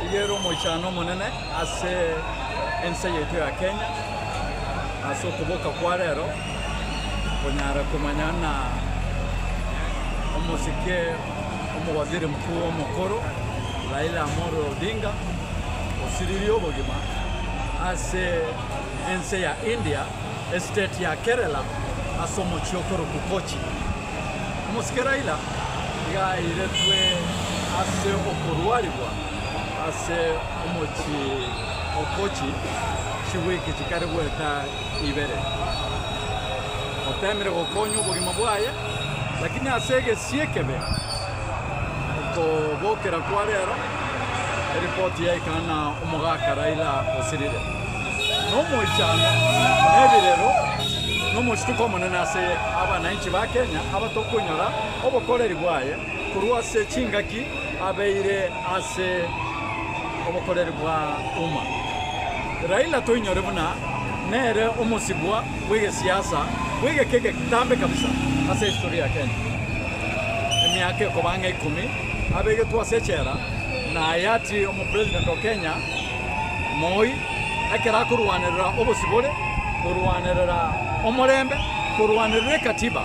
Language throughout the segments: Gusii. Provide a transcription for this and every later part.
Iga ere omochano omonene ase ense yaito ya Kenya ase okoboka kwa rero konyara komanya na omosike omowaziri mkuu omokoro Raila Amolo Odinga osiririe obogima ase ense ya India estate ya Kerela ase omochie okorokwa Kochi. Omosike Laila nigo airetwe ase okorwarigwa ase omochie o Kochi chigwiki chikare goeta ibere. Otemire gokonya obogima bwaye, lakini ase egesie ekebe okobokera kwa rero eripoti yaikana na omogaka Laila osirire. nomoichano, nebirero, nomochituko omonene ase abanainchi ba Kenya abatokonyora obokoreri bwaye korwa ase chingaki abeire ase obokoreri bwa Uma. Raila toinyore buna nere omosibwa bw'egesiasa bw'egeka eke kitambe kabisa ase history ya Kenya. Emiaka ekobang'a ikomi abegetwe ase echera na hayati omopresident o Kenya Moi, ekero akorwanerera obosibore, korwanerera omorembe, korwanerera ekatiba,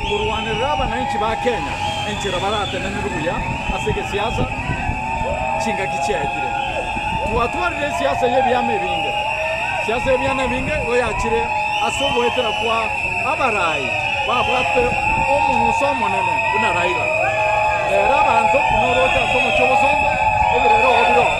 korwanerera abanainchi ba Kenya enchera baratenenerwe buya ase egesiasa chingaki chiaetire. Twatwarire esiasa y'ebiama ebinge, siasa y'ebiana ebinge igo yachire ase ogoetera kwa abarai babwate omonguso omonene buna Raila. Rero abanto buna oroche ase omochie obosongo, ebirere oo bire oo.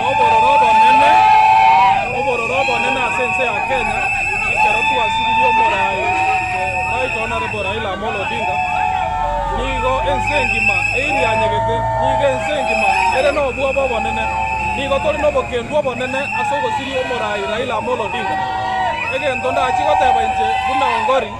Nobororo obonene, obororo obonene ase ense ya Kenya ekero twasiririe omorai right honourable Raila Amolo Odinga, nigo ense engima eirianyegete, nigo ense engima ere nobwoba obonene, nigo tore nobokendu obonene ase ogosiria omorai Raila Amolo Odinga. Egento ndachie goteba inche buna Ongori.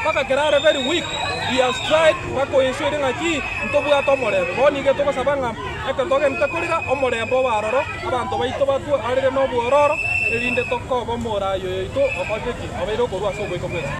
Mpaka kera are very weak he has tried bakoensure ng'aki ntobwate omorembe. Bono nigo togosaba ng'a ekero togenderete korera omorembe obe aroro, abanto baito batwe arere nobwororo, erinde tokoba omoraai oyoito okorete ki? Obeire okorua ase ogoika gwensi.